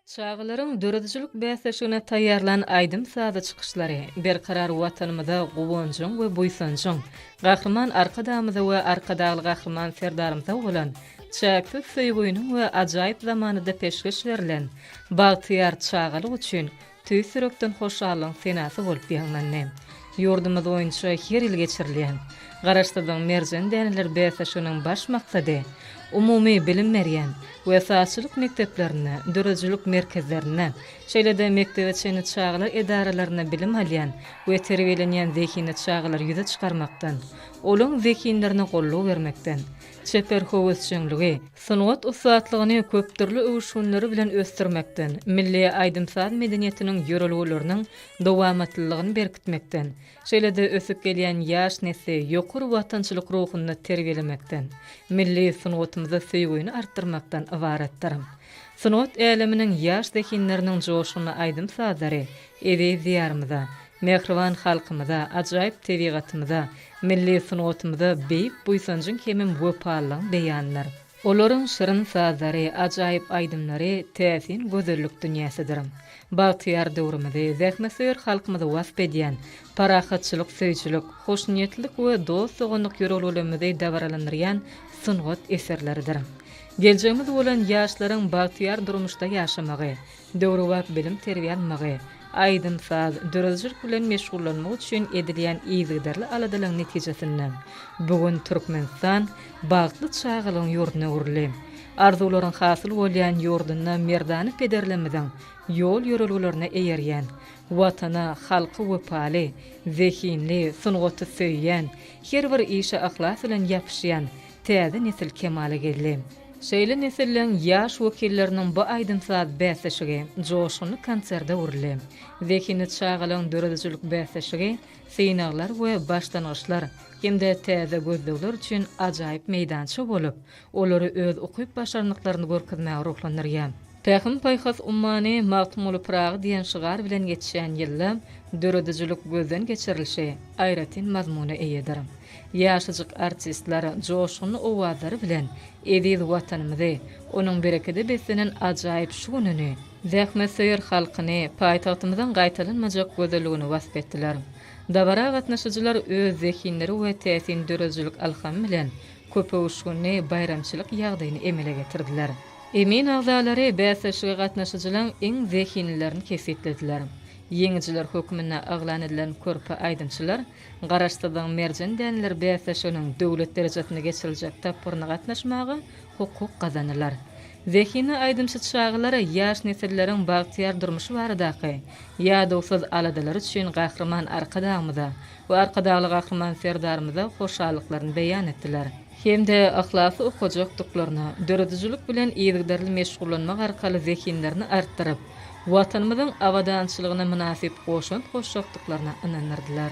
Çagalaryň döredijilik bäsleşigine taýýarlan aýdym-sazy çykyşlary Berkarar Watanymyza guwanjyň we buýsanjyň, Gahryman Arkadagymyza we Arkadagly Gahryman Serdarymyza bolan çäksiz söýgüniň we ajaýyp zamanada peşgeş berlen Bagtyýar çagalyk üçin tüýs ýürekden hoşallygyň senasy bolup ýaňlandy. Ýurdumyz boýunça her ýyl geçirilýän Garaşsyzlygyň merjen däneleri bäsleşiginiň baş maksady umumy bilim berýän we sazçylyk mekdeplerinde, döredijilik merkezlerinde, şeýle-de mekdebe çenli çagalar edaralarynda bilim alýan we terbiýelenýän zehinli çagalary ýüze çykarmakdan, olaryň zehinlerine goldaw bermekden, çeper höwesjeňligi, sungat ussatlygyny köp dürli öwüşginleri bilen ösdürmekden, milli aýdym-saz medeniýetiniň ýörelgeleriniň dowamatlylygyny berkitmekden, şeýle-de ösüp gelýän ýaş nesli ýokary watançylyk ruhunda terbiýelemekden, milli sungatymyza söýgini artdyrmakdan ybaratdyr. Sungat äleminiň ýaş zehinleriniň joşgunly aýdym-sazlary eziz Diýarymyza, Mähriban halkymyza, ajaýyp tebigatymyza, milli sungatymyza beýik buýsanjyň hemem wepalylygyň beýanydyr. Olaryň şirin sazlary, ajaýyp aýdymlary täsin gözellik dünýäsidir. Bagtyýar döwrümizi, zähmetsöýer halkymyzy wasp edýän, parahatçylyk söýüjilik, hoşniýetlilik we dost-doganlyk ýörelgelerimizi dabaralandyrýan sungat eserleridir. Geljegimiz bolan ýaşlaryň bagtyýar durmuşda ýaşamagy, döwrebap bilim-terbiýe almagy, aýdym-saz, döredijilik bilen meşgullanmagy üçin edilýän yzygiderli aladalaryň netijesinde, bu gün Türkmenistan bagtly çagalygyň ýurduna öwrüldi. Arzuwlaryň hasyl bolýan ýurdunda merdana pederlerimiziň ýol-ýörelgelerine eýerýän, Watana, halka wepaly, zehinli, sungaty söýýän, her bir işe yhlas bilen ýapyşýan, täze nesil kemala geldi. Şeýle nesilleň ýaş wekilleriniň bu aýdym-saz bäsleşigi joşgunly konserde öwrüldi. Zehinli çagalaryň döredijilik bäsleşigi synaglar we başlangyçlar hem-de täze gözlegler üçin ajaýyp meýdança bolup, olary öz ukyp-başarnyklaryny görkezmäge ruhlandyrýar. Pähim-paýhas ummany Magtymguly Pyragy diýen şygar bilen geçýän ýylda döredijilik gözden geçirilişi aýratyn mazmuna eýedir. Ýaşajyk artistler joşgunly owazlary bilen eziz Watanymyzy, onuň berekede beslenen ajaýyp şu gününi, zähmetsöýer halkyny, paýtagtymyzyň gaýtalanmajak gözelligini wasp etdiler. Dabara gatnaşyjylar öz zehinleri we täsin döredijilik alhamy bilen köpöwüşginli baýramçylyk ýagdaýyny emele getirdiler. Emin agzalary bäsleşige gatnaşyjylaryň iň zehinlilerini kesgitlediler. Ýeňijiler hökmünde yglan edilen körpe aýdymçylar Garaşsyzlygyň merjen däneleri bäsleşiginiň döwlet derejesinde geçiriljek tapgyryna gatnaşmaga hukuk gazandylar. Zehinli aýdymçy çagalar ýaş nesilleriň bagtyýar durmuşy baradaky ýadawsyz aladalary üçin Gahryman Arkadagymyza we Arkadagly Gahryman Serdarymyza hoşallyklaryny beýan etdiler. hem-de yhlasly okajakdyklaryna, döredijilik bilen yzygiderli meşgullanmak arkaly zehinlerini artdyryp, Watanymyzyň abadançylygyna mynasyp goşant goşjakdyklaryna ynandyrdylar.